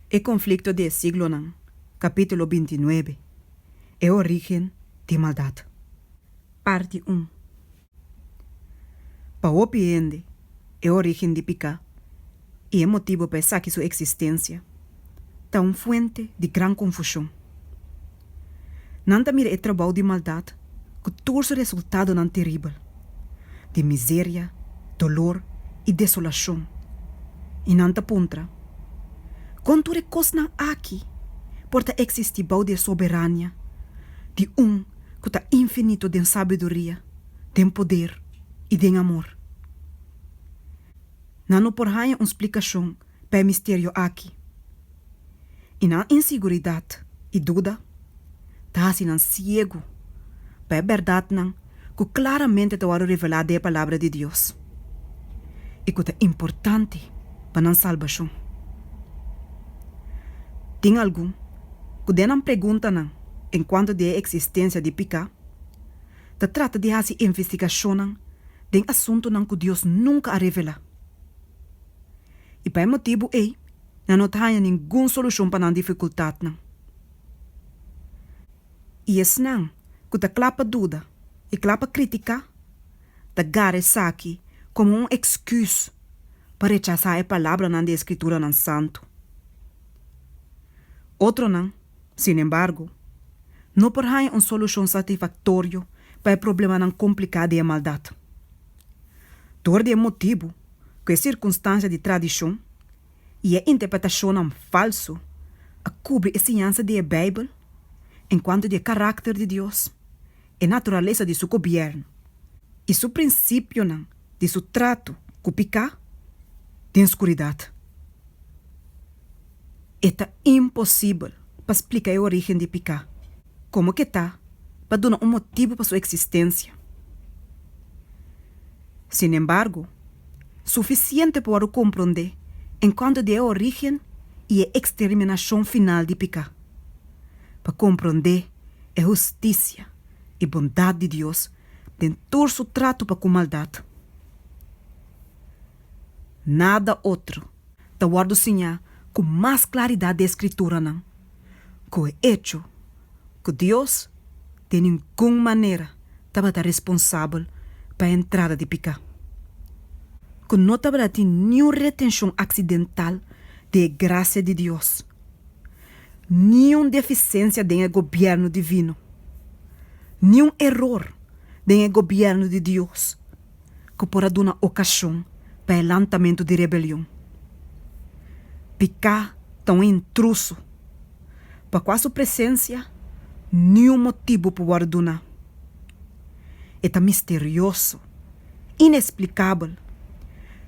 E conflicto di e siglonan, capítulo bintinuebe, E origen di maldad, parti un. Pa hopi hende, e origen di picá i e motibo pa esaki su existencia ta un fuente di gran confusion. Nan ta mira e trabou di maldat ku tur su resultadonan teribel, di miseria, dolor i desolashon, i nan ta puntra, Kon tur e kosnan aki por ta eksistí bou di e soberania di Un ku ta infinito den sabiduria, den poder i den amor? Nan no por haña un splikashon pa e misterio aki, i nan inseguridat i duda ta hasi nan siegu pa e bèrdatnan ku klaramente ta wòrdu revelá den e Palabra di Dios i ku ta importante pa nan salbashon. Tin algun ku den nan preguntanan enkuanto di e eksistensia di piká ta trata di hasi investigashonnan den asuntunan ku Dios nunka a revelá. I pa e motibu ei, nan no ta haña ningun solushon pa nan difikultatnan. I esnan ku ta kla pa duda i kla pa kritiká, ta gara esaki komo un eksküs pa rechasá e palabranan di e Skrituranan santu. Otronan, sinembargo, no por haña un solushon satisfaktorio pa e problemanan kompliká di e maldat. Dor di e motibu ku e sirkunstansia di tradishon i e interpretashonnan falsu a kubri e siñansa di e Beibel enkuanto di e karakter di Dios, e naturalesa di su gobièrnu i su prinsipionan di su tratu ku piká den skuridat, e ta imposibel pa splika e orígen di piká. Komo ke ta pa duna un motibu pa su eksistensia? Sinembargo, sufisiente por wòrdu komprondé en kònto di e orígen i e eksterminashon final di piká, pa komprondé e hustisia i bondat di Dios den tur su tratu pa ku maldat. Nada otro. ta wòrdu siñá ku mas klaridat di e Skrituranan ku e echo ku Dios den ningun manera tabata responsabel pa e entrada di piká, ku no tabata tin niun retenshon aksidental di e grasia di Dios, niun defisensia den e gobièrnu divino, niun eror den e gobièrnu di Dios ku por a duna okashon pa e lantamentu di rebelion. Piká ta un intruso, pa kua su presensia niun motibu por wòrdu duna. E ta misterioso, inesplikabel.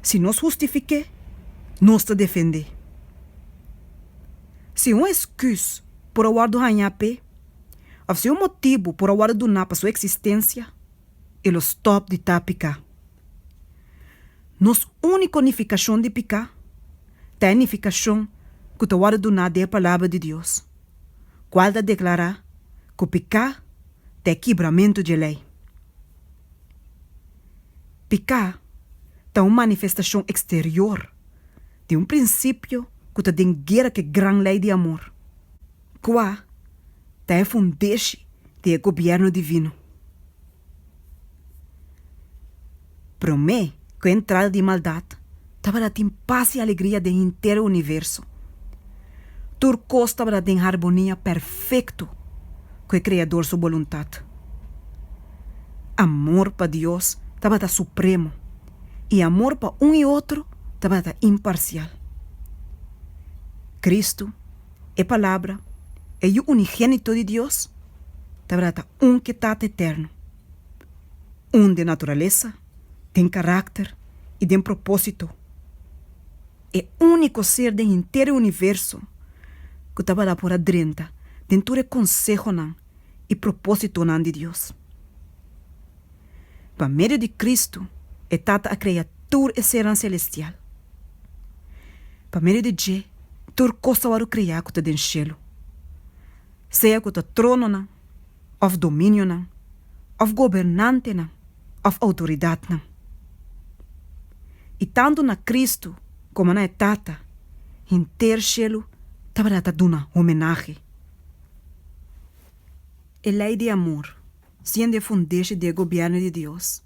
Si nos hustifiké, nos ta defendé. Si un eskùs por a wòrdu hañá p'e, òf si un motibu por a wòrdu duná pa su eksistensia, e lo stòp di ta piká. Nos úniko nifikashon di piká ta e nifikashon ku ta wòrdu duná di e Palabra di Dios, kual ta deklará ku piká ta e kibramentu dje lei. Piká ta un manifestashon eksterior di un prinsipio ku ta den guera ku e gran lei di amor. Kua ta e fundeshi di e gobièrnu divino? Promé ku e entrada di maldat tabata tin pas i alegria den henter universo. Tur kos tabata den harbonia perfekto ku e Kreador su boluntat. Amor pa Dios tabata supremo i amor pa un i otro tabata imparsial. Kristu. E Palabra, e Yu Unigénito di Dios, ta bradad un k'e Tata Eterno, un den naturalesa, den karakter i den propósito, e úniko Ser den henter e universo ku ta bada por a drenta den tur e konsehonan i propósitonan di Dios. Pa medio di Cristo, e Tata a krea tur e sernan selestial. Pa medio di dje, tur kos a wòrdu krea ku ta den shelu, sea ku ta trononan òf dominionan òf gobernantenan òf outoridatnan. I tantu na Cristo komo na e Tata, henter shelu tabata ta duna homenahe. E lei di amor siendo e fundeshi di e gobièrnu di Dios,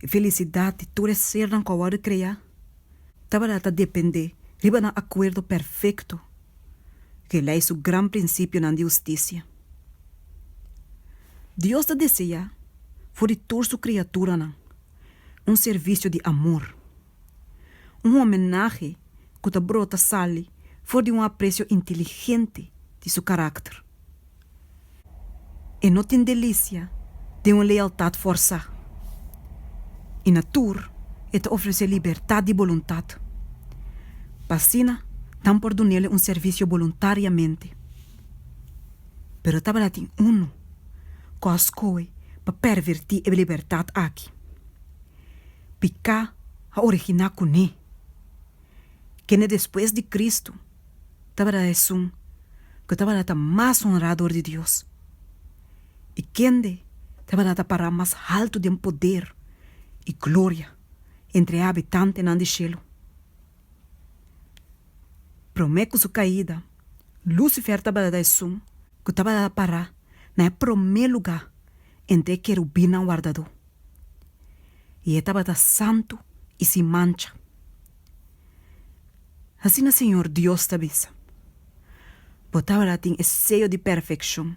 e felisidat di tur e sernan ku a wòrdu kreá tabata ta dependé riba nan akuerdo perfekto ku e lei su gran prinsipionan di hustisia. Dios ta deseá for di tur su kriaturanan un servisio di amor. Un homenahe ku ta brota sali for di un apresio inteligente di su karakter. E no tin delisia den un lealtat forsá i na tur e ta ofresé libertat di boluntat pa asina nan por dun'ele un servisio boluntariamente. Pero tabata tin unu kos koe pa pervertí e libertat aki. Piká a originá kuné. Kende despues di Kristu tabata esun ku tabata ta mas honrá dor di Dios, i kende tabata ta pará mas haltu den poder i gloria entre e habitantenan di shelu. Promé ku su kaida, Lúsifer tabata ta esun ku tabata ta pará na e promé lugá entre e kerubinnan wardadó. i e tabata santu i sin mancha. Asina Señor Dios ta bisa, Bo tabata tin e seyo di perfekshon,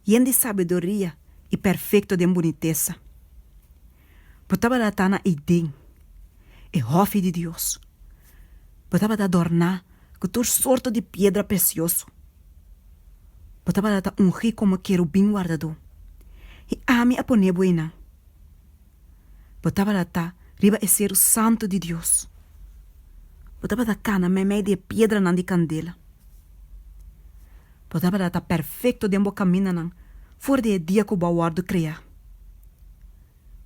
yen di sabiduria i perfekto den bunitesa. Bo tabata ta na Eden, e hòfi di Dios. Bo tabata adorná ku tur sorto di piedra presioso. Bo tabata ta ungí komo kerubin wardadó, i ami a poné bo einan. Bo tabata ta riba e seru santu di Dios. Bo tabata kana meimei di e piedranan di kandela. Bo tabata ta perfekto den bo kamindanan for di e dia ku bo a wòrdu kreá.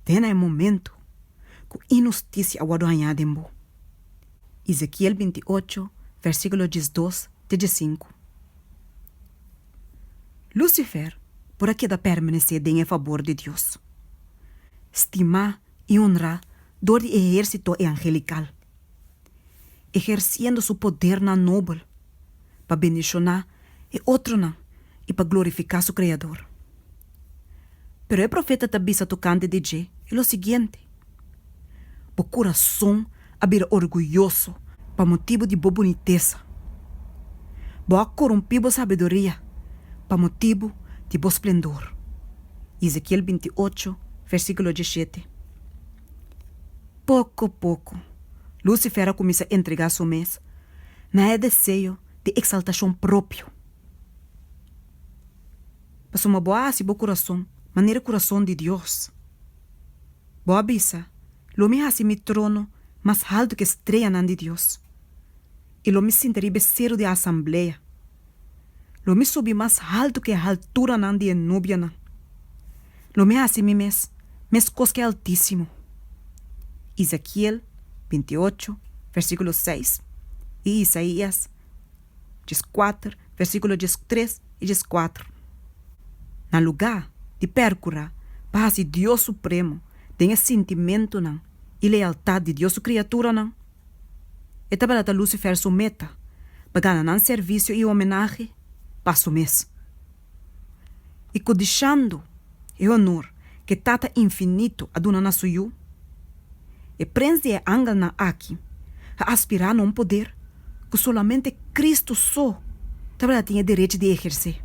te na e momentu ku inhustisia a wòrdu hañá den bo. Ezekiel binti i ocho, versíkulo djes dos te djes sinku. Lúsifer por a keda permanesé den e fabor di Dios, stimá i onrá dor di e ehérsito e angelikal. eherciendo su podernan nobel pa bendiciona e otronan i pa glorifica su Creador. Pero e profeta ta bisa tocante di dje i lo siguiente, Bo curason a bira orguyoso pa motibu di bo bunitesa, bo a corumpi bo sabiduria pa motibu di bo splendor. Ezekiel binti ocho, versiculo dieschete. Poko poko, Lucifer a kuminsá entregá su mes na e deseo di eksaltashon propio. Pasobra bo a hasi bo kurason manera kurason di Dios. Bo a bisa, Lo mi hasi mi trono mas haltu ku e streyanan di Dios, i lo mi sinta riba e seru di e asamblea. Lo mi subi mas haltu ku e halturanan di e nubianan. Lo mi hasi mi mes meskos ku e Altísimo. Ezekiel binti i ocho, versíkulo seis, i Isaías dies i kuater, versíkulo dies i tres i dies i kuater. Na lugá di pèrkurá pa hasi Dios Supremo den e sintimentunan i lealtat di Dios su kriaturanan, e tabata ta Lusifer su meta pa gana nan servisio i homenahe pa su mes. i kodishando e honor ku e Tata Infinitu a duna na su Yu. E prens di e angelnan aki a aspirá na un poder ku solamente Kristu so tabata tin e derechi di ehersé.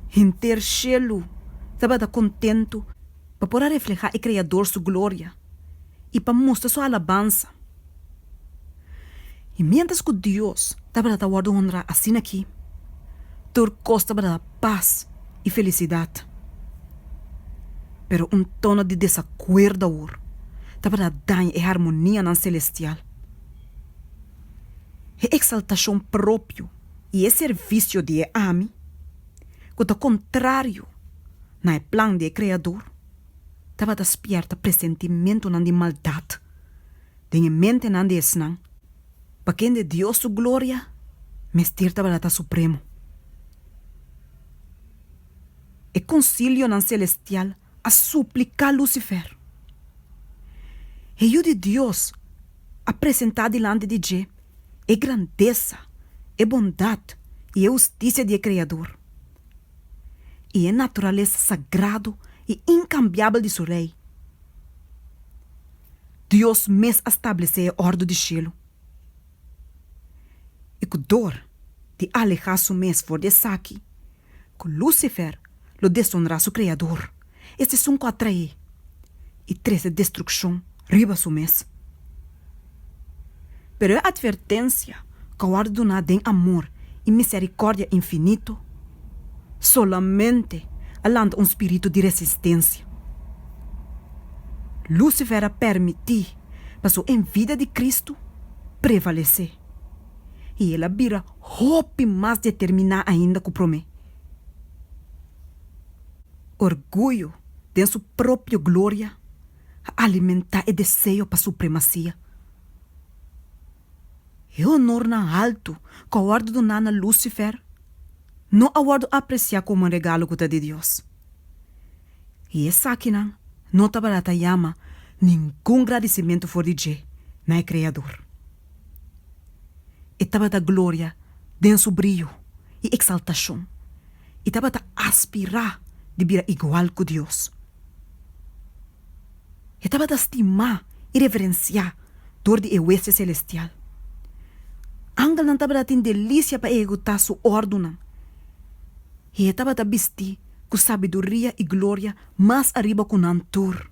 Henter shelu tabata kontentu pa por a reflehá e Kreador su gloria i pa mustra su alabansa. I miéntras ku Dios tabata ta wòrdu honrá asina aki, tur kos tabata ta pas i felisidat. Pero un tono di desakuerdo awor tabata ta daña e harmonianan selestial. E eksaltashon propio i e servisio di e ami, ku ta kontrario na e plan di e Kreador, tabata spierta presentimentunan di maldat den e mentenan di esnan, pa kende Dios su gloria mester tabata ta supremo. E konsilionan selestial a supliká Lusifer. E Yu di Dios a presentá dilanti di dje e grandesa, e bondat i e hustisia di e Kreador. i e naturalesa sagrado i inkambiabel di su Rei. Dios mes a stablesé e òrdu di shelu. I ku dor di alehá su mes for di esaki, ku Lusifer lo desonrá su Kreador. E sesun ku a traé i trese destrukshon riba su mes. Pero e atvertensia ku a wòrdu duná den amor i miserikòrdia infinito solamente a lanta un spiritu di resistensia. Lusifer a permití pa su envidia di Kristu prevalesé i el a bira hopi mas determiná ainda ku promé. Orguyo den su propio gloria a alimentá e deseo pa supremasia. E onornan haltu ku a wòrdu duná na Lusifer no a wòrdu apresiá komo un regalo ku ta di Dios, i esakinan no tabata ta yama ningun gradisimentu for di dje na e Kreador. E tabata gloria den su briyu i eksaltashon. i tabata aspirá di bira igual ku Dios. E tabata stimá i reverensiá dor di e westia selestial. Angelnan tabata tin delisia pa ehekutá su òrdunan i e tabata bistí ku sabiduria i gloria mas ariba ku nan tur.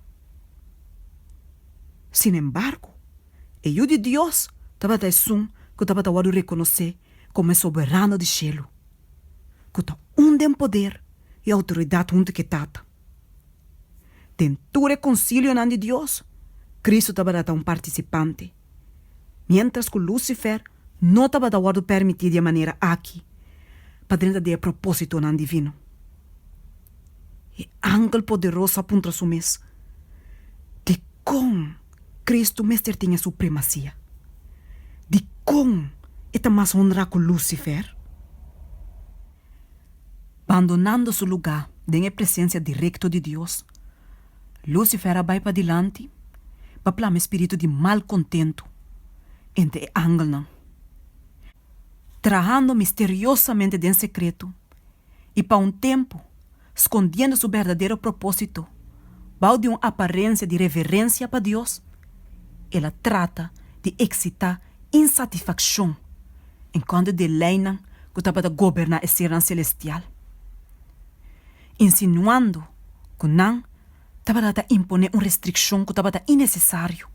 Sin embargo, e Yu di Dios tabata Esun ku tabata wòrdu rekonosé komo e Soberano di shelu. ku ta un den poder i outoridat huntu ku e Tata. Den tur e konsilionan di Dios, Kristu tabata ta un partisipante, miéntras ku Lusifer no tabata wòrdu permití di e manera aki pa drenta di e propósitonan divino. E angel poderoso a puntra su mes, Dikon Kristu mester tin e supremasia? Dikon e ta mas honrá ku Lusifer? Bandonando su lugá den e presensia direkto di Dios, Lusifer a bai padilanti pa plama e spiritu di malkontentu entre e angelnan, trahando misteriosamente den sekreto. i pa un tempu skondiendo su berdadero propósito bou di un aparensia di reverensia pa Dios, el a trata di eksitá insatisfakshon en kòntra di e leinan ku tabata goberná e sernan selestial, insinuando ku nan tabata ta imponé un restrikshon ku tabata inesesario.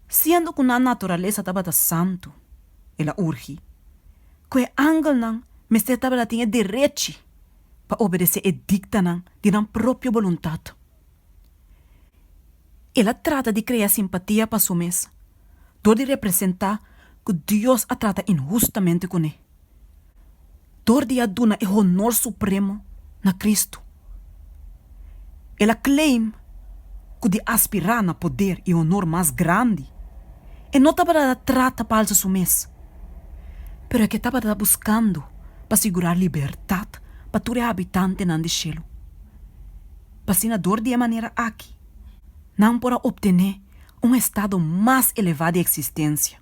Siendo ku nan naturalesa tabata santu, el a urgi. ku e angelnan mester tabata tin e derechi pa obedesé e diktanan di nan propio boluntat. El a trata di krea simpatia pa su mes dor di representá ku Dios a trata inhustamente kuné, dor di a duna e honor supremo na Kristu. El a claim cu di aspira na poder y honor mas grandi, e no tabata ta trata pa alza su mes, pero e ke tabata ta buscando pa sigura libertad pa tur e habitantenan di cielo. Pasina dor di e manera aki nan por a obtene un estado mas eleva di existencia.